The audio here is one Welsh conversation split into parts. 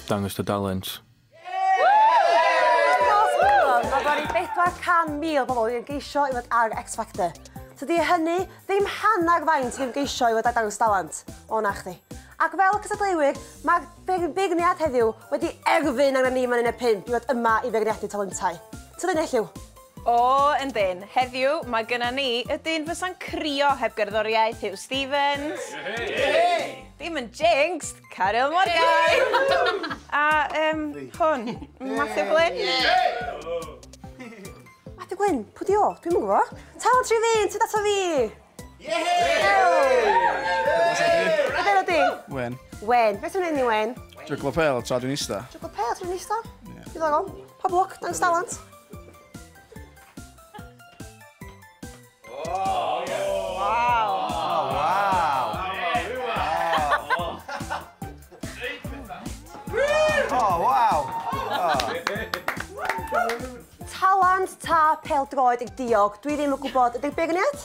Dangos dy dalent. Mae wedi 400,000 pobl wedi geisio i fod ar X Factor. Tydi hynny ddim hanner faint sy'n geisio i fod ar dangos dalent. O na chdi. Ac fel cysadleuwyr, mae'r beirniad heddiw wedi erfyn arna ni fan hyn y pump i fod yma i feirniadu talentau. Tydi Nell yw? O, yndyn. Heddiw, mae gynna ni y dyn fysa'n crio heb gerddoriaeth, Huw Stephens. Yehey! Dim yn jinxed, Caryl Morgan! A, yym, hwn, Matthew Glyn. Matthew Glyn? Pwy 'di o? Dwi'm yn gwbo. Tal tri fi'n tyd ato fi! A be' 'na di? Wen. Wen. Be' ti'n neud ni Wen? Jyglo pêl tra dwi'n ista. Jyglo pêl tra dwi'n ista? Ie. Diddorol. Pob lwc, dangos dalent. Talent ta pêl-droed diog? Dwi ddim yn gwybod. Ydy be' gwn i at?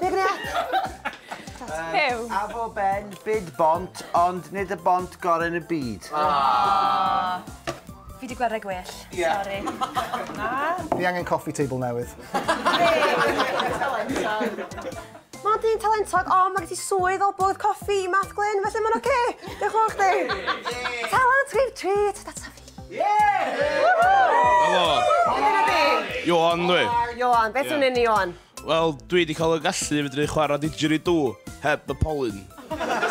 Be gwneud? Huw. Afo Ben, bid bont, ond nid y bont gorau yn y byd. Fi di gweld rhai gwell. Ie. Sori. Na. Fi angen coffee table newydd. Mae dyn talentog, ond mae gen ti swydd o bwrdd coffi i Math Glyn, felly mae'n oce. Diolch yn fawr chdi. Talent, give treat, that's a fi. Helo. Helo. Helo. Ioan dwi. Ioan, beth yw'n un Ioan? Wel, dwi 'di cael y gallu i fedru chwarae didgeridoo heb y polyn.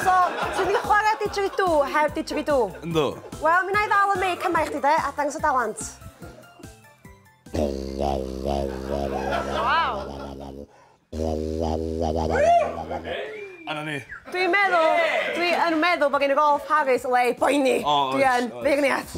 So, ti wedi chwarae didgeridoo heb didgeridoo? Yndw. Wel, mi 'na i ddal y meic yma i chdi de, a dangos y dalent. A 'na ni. Dwi'n meddwl, dwi yn meddwl bod gen y Rolf Harris le i boeni. O, oes, oes. Dwi yn. Beirniaid.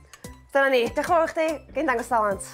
Dyna ni. Diolch yn fawr i chdi. Gei di ddangos talent.